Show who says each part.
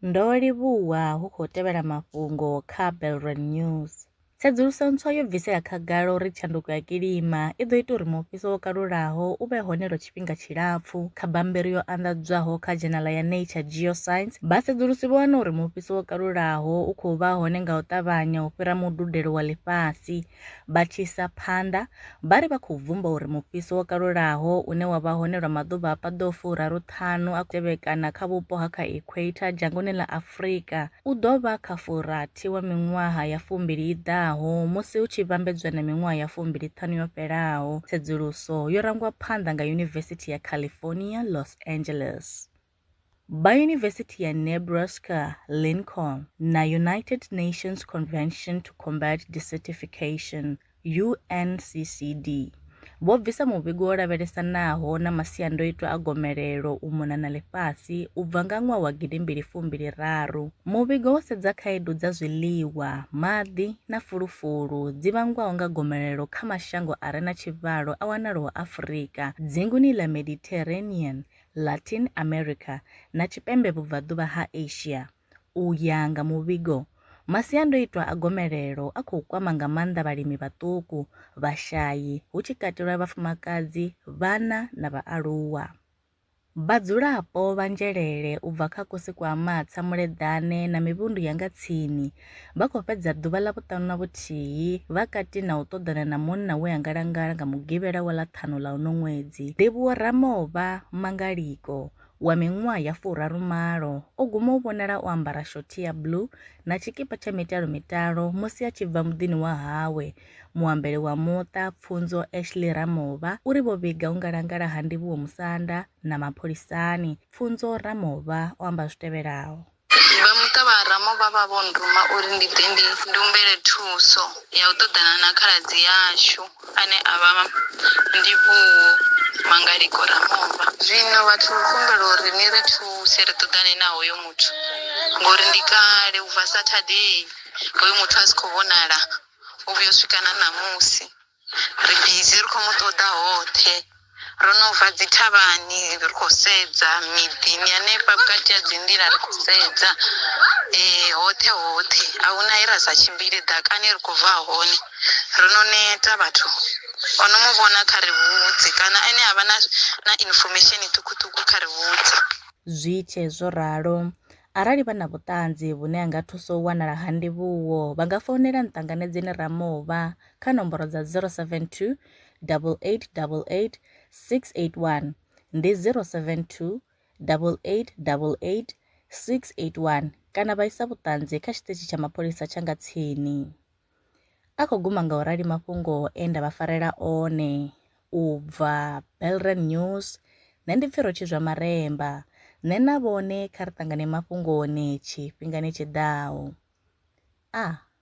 Speaker 1: Ndo livhuwa hu khou tevhela mafhungo kha Belron News. Tsedzuluso ntswa yo bvisela khagala uri tshanduko ya kilima i ḓo ita uri mufhiso wo kalulaho u vhe hone lwa tshifhinga tshilapfu. Kha bammbiri yo anḓadzwaho kha dzhenala ya Nature Geoscience, vhasedzulusi vho wana uri mufhiso wo kalulaho u khou vha hone nga u ṱavhanya u fhira mududelo wa ḽifhasi. Vha tshi isa phanḓa, vha ri vha khou bvumba uri mufhiso wo kalulaho une wa vha hone lwa maḓuvha a paḓaho furaruṱhanu a tevhekana kha vhupo ha kha equator dzhangoni ḽa Afrika u ḓo vha kha furathi wa miṅwaha ya fumbili i ḓaho musi hu tshi vhambedzwa na miṅwaha ya fumbiliṱhanu yo fhelaho, tsedzuluso yo rangwa phanḓa nga Yunivesithi ya California, Los Angeles. Ba Yunivesithi ya Nebraska-Lincoln na United Nations Convention to Combat Desertification, UNCCD, vho bvisa muvhigo wo lavhelesanaho na masiandoitwa a gomelelo u mona na ḽifhasi u bva nga ṅwaha wa gidi mbili fumbili raru. Muvhigo wo sedza khaedu dza zwiḽiwa, maḓi na fulufulu dzi vhangwaho nga gomelelo kha mashango a re na tshivhalo a wanalaho Afurika, dzinguni ḽa Mediterranean Latin America na Tshipembe Vhubvaḓuvha ha Asia. U ya nga muvhigo, masiandoitwa a gomelelo a khou kwama nga maanḓa vhalimi vhaṱuku, vhashai, hu tshi katelwa vhafumakadzi, vhana na vhaaluwa. Vhadzulapo vha Nzhelele u bva kha Kosi Kwa Amatsa, Muleḓane na mivhundu ya nga tsini Vha khou fhedza ḓuvha ḽa vhuṱanu na vhuthihi vha kati na u ṱoḓana na munna we a ngalangala nga Mugivhela wa ḽa ṱhanu ḽa uno ṅwedzi. Ndivhuwo Ramovha Mangaliko wa miṅwaha ya furaru malo o guma u vhonala o ambara shothi ya blue na tshikipa tsha mitalo mitalo musi a tshi bva muḓini wa hawe. Muambeli wa muṱa, Pfunzo Ashley Ramovha, u ri vho vhiga u ngalangala ha Ndivhuwo musanda na mapholisani. Pfunzo Ramovha o amba zwi tevhelaho. Vha muṱa vha
Speaker 2: Ramo vha vha vho nduma uri ndi ḓe ndi humbele thuso ya u ṱoḓana na khaladzi yashu ane a vha Ndivhuwo Mangaliko Ramovha. Zwino vha thu humbela uri ni ri thuse ri ṱoḓane na hoyo muthu ngori ndi kale u bva Saturday hoyo muthu a si khou vhonala u vhuya u swika na ṋamusi. ri bizi ri khou mu ṱoḓa hoṱhe ro no bva dzi thavhani ri khou sedza miḓini hanefha vhukati ha dzi nḓila ri khou sedza eh hoṱhe hoṱhe a huna he ra sa tshimbile ḓakani ri khou bva hone ro no neta vhathu o no mu vhona kha ri vhudze kana ene a vha na na information ṱhukhuṱhukhu kha ri vhudze zwi tshe
Speaker 1: zwo ralo arali vha na vhuṱanzi vhune ha nga thusa u wanala ha ndivhuwo vha nga founela nṱanganedzeni ramova kha nomboro dza 072 8888 681 ndi 072 8888 681 kana vha isa vhuṱanzi kha tshiṱitshi tsha mapholisa tsha nga tsini. A khou guma nga u rali mafhungo e nda vha farela one. U bva Belrand News, nṋe ndi Pfiro Tshizwa Maremba. Nṋe na vhone kha ri ṱangane mafhungoni tshifhingani tshi ḓaho. A.